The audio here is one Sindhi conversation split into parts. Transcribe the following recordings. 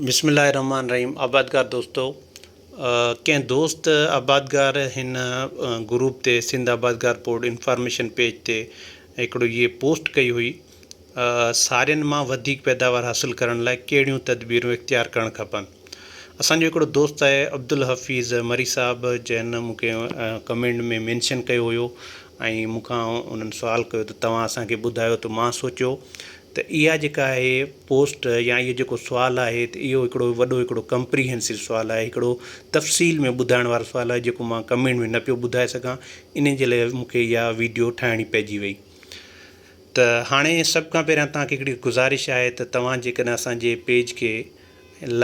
بسم الله الرحمٰن الرحيم آبادگار دوستو ڪنهن دوست آبادگار هن گروپ تي سنڌ آبادگار بورڊ انفارميشن پيج تي هڪڙو هيء پوسٽ ڪئي هئي سارين مان وڌيڪ پيداوار حاصل ڪرڻ لاء ڪهڙيون تدبيرون اختيار ڪرڻ کپن اسان جو هڪڙو دوست آهي عبدالحفيظ مري صاحب جنهن مون کي ڪمينٽ ۾ مينشن ڪيو هيو ۽ مون کان انهن سوال ڪيو ته توهان اسان کي ٻڌايو ته مان سوچيو ته اها جيڪا آهي پوسٽ يا اهو جيڪو سوال آهي ته اهو هڪڙو وڏو هڪڙو ڪمپريهنسو سوال آهي هڪڙو تفصيل ۾ ٻڌائڻ وارو سوال آهي جيڪو مان ڪمينٽ ۾ نه پيو ٻڌائي سگهان انهي جي لاء مون کي اها ويڊيو ٺاهڻي پئجي وئي ته هاڻي سڀ کان پهريان توهان کي هڪڙي گذارش آهي ته توهان جيڪڏهن اسان جي پيج کي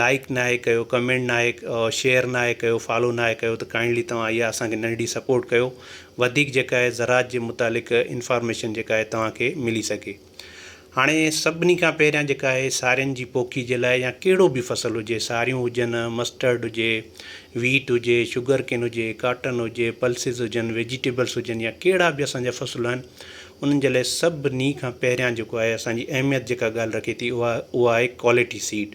لائڪ ناهي ڪيو ڪمينٽ ناهي شيئر ناهي ڪيو فالو ناهي ڪيو ته ڪائنڊلي توهان اها اسان کي ننڍي سپورٽ ڪيو وڌيڪ جيڪا آهي زراعت جي متعلق انفارميشن جيڪا آهي توهان کي ملي سگهي هاڻي سڀني کان پهريان جيڪا آهي سارين جي پوکي جي لاء يا ڪهڙو به فصل هجي ساريون هجن، مسٽرڊ هجي، ويٽ هجي، شگر ڪين هجي، ڪاٽن هجي، پلسز هجن، ويجيٽيبلس هجن يا ڪهڙا به اسان جا فصل آهن انهن جي لاء سڀني کان پهريان جيڪو آهي اسان جي اهميت جيڪا ڳالهه رکي ٿي اها اها آهي quality seed.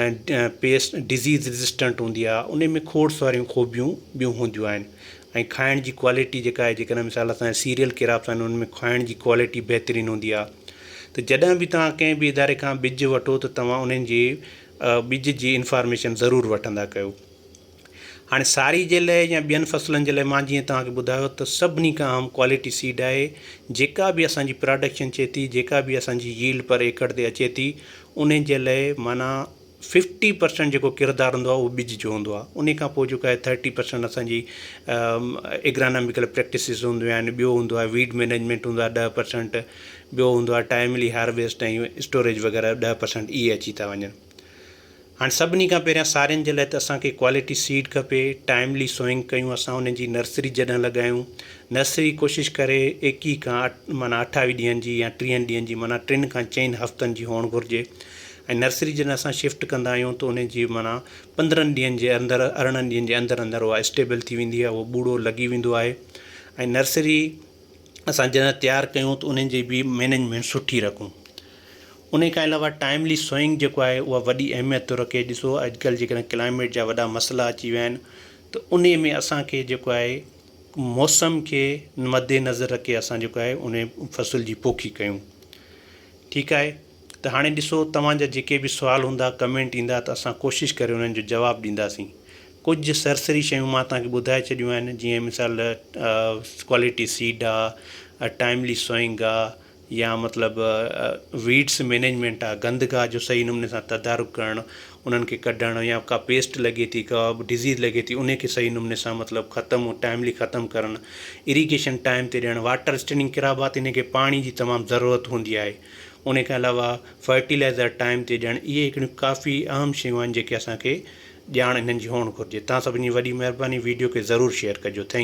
۽ Pest disease resistant هوندي آهي ان ۾ کوڙ ساريون خوبيون ٻيون هونديون آهن ۽ کائڻ جي ڪوالٽي جيڪا آهي جيڪڏهن مثال اسان جا سيريل ڪراپس آهن ان ۾ کائڻ جي ڪوالٽي بهترين هوندي آهي ته جڏهن به تهان ڪنهن به اداري کان ٻج وٺو ته توهان انهن جي ٻج جي انفارميشن ضرور وٺندا ڪيو هاڻي ساري جي لئه يا ٻين فصلن جي لئه مان جيئن توهان کي ٻڌايو ته سڀني کان اهم ڪوالٽي سيڊ آهي جيڪا به اسان جي پراڊڪشن اچي ٿي جيڪا به اسان جي ييلڊ پر ايڪڙ تي اچي ٿي ان جي لئه معنيٰ ففٽي پرسنٽ جيڪو ڪردار هوندو آهي اهو ٻج جو هوندو آهي انهي کان پوء جيڪو آهي ٿرٽي پرسنٽ اسان جي ايگراناميڪل پريڪٽسز هونديون آهن ٻيو هوندو آهي ويڊ مينيجمينٽ هوندو آهي ڏهه پرسنٽ ٻيو هوندو آهي ٽائملي هارويسٽ ۽ اسٽوريج وغيره ڏهه پرسنٽ اهي اچي ٿا وڃن هاڻ سڀني کان پهريان سارين جي لاء ته اسان کي ڪوالٽي سيڊ کپي، ٽائملي سوئنگ ڪيون اسان انهن جي نرسري جڏهن لڳايون، نرسري ڪوشش ڪري ايڪيهه کان معنيٰ اٺاويهه ڏينهن جي يا ٽيهن ڏينهن جي معنيٰ ٽن کان چئن هفتن جي هئڻ گهرجي ۽ نرسري جڏهن اسان شفٽ ڪندا آهيون ته انهن جي معنيٰ پندرهن ڏينهن جي اندر ارڙهن ڏينهن جي اندر اندر اها اسٽيبل ٿي ويندي آهي اهو ٻوڙو لڳي ويندو آهي ۽ نرسري اسان جڏهن تيار ڪيون ته انهن جي به مينجمينٽ سٺي رکون انهي کان علاوه ٽائملي سوئنگ جيڪو آهي اها وڏي اهميت ٿو رکي ڏسو اڄڪلهه جيڪڏهن ڪلائميٽ جا وڏا مسئلا اچي ويا آهن ته انهي ۾ اسان کي جيڪو آهي موسم کي مدي نظر رکي اسان جيڪو آهي انهي فصل جي پوکي ڪيون ٺيڪ آهي ته هاڻي ڏسو توهان جا جيڪي به سوال هوندا ڪمينٽ ايندا ته اسان ڪوشش ڪري انهن جو جواب ڏينداسين ڪجهه سرسري شيون مان توهان کي ٻڌائي ڇڏيون آهن جيئن مثال ڪوالٽي سيڊ آ ٽائملي سوئنگ آ يا مطلب ويڊس مينيجمينٽ آ گند گاهه جو صحيح نموني سان تدارڪ ڪرڻ انهن کي ڪڍڻ يا ڪا پيسٽ لڳي ٿي ڪا ڊزيز لڳي ٿي انهي کي صحيح نموني سان مطلب ختم ٽائملي ختم ڪرڻ ايريگيشن ٽائم تي ڏيڻ واٽر اسٽينڊنگ ڪرابا تي انهن کي پاڻي جي تمام ضرورت هوندي آهي ان کان علاوه فرٽيلائزر ٽائيم تي ڏيڻ اهي هڪڙيون ڪافي اهم شيون آهن جيڪي اسان کي ڄاڻ انهن جي هئڻ گهرجي تان سڀني جي وڏي مهرباني ويڊيو کي ضرور شيئر ڪجو ٿينڪ.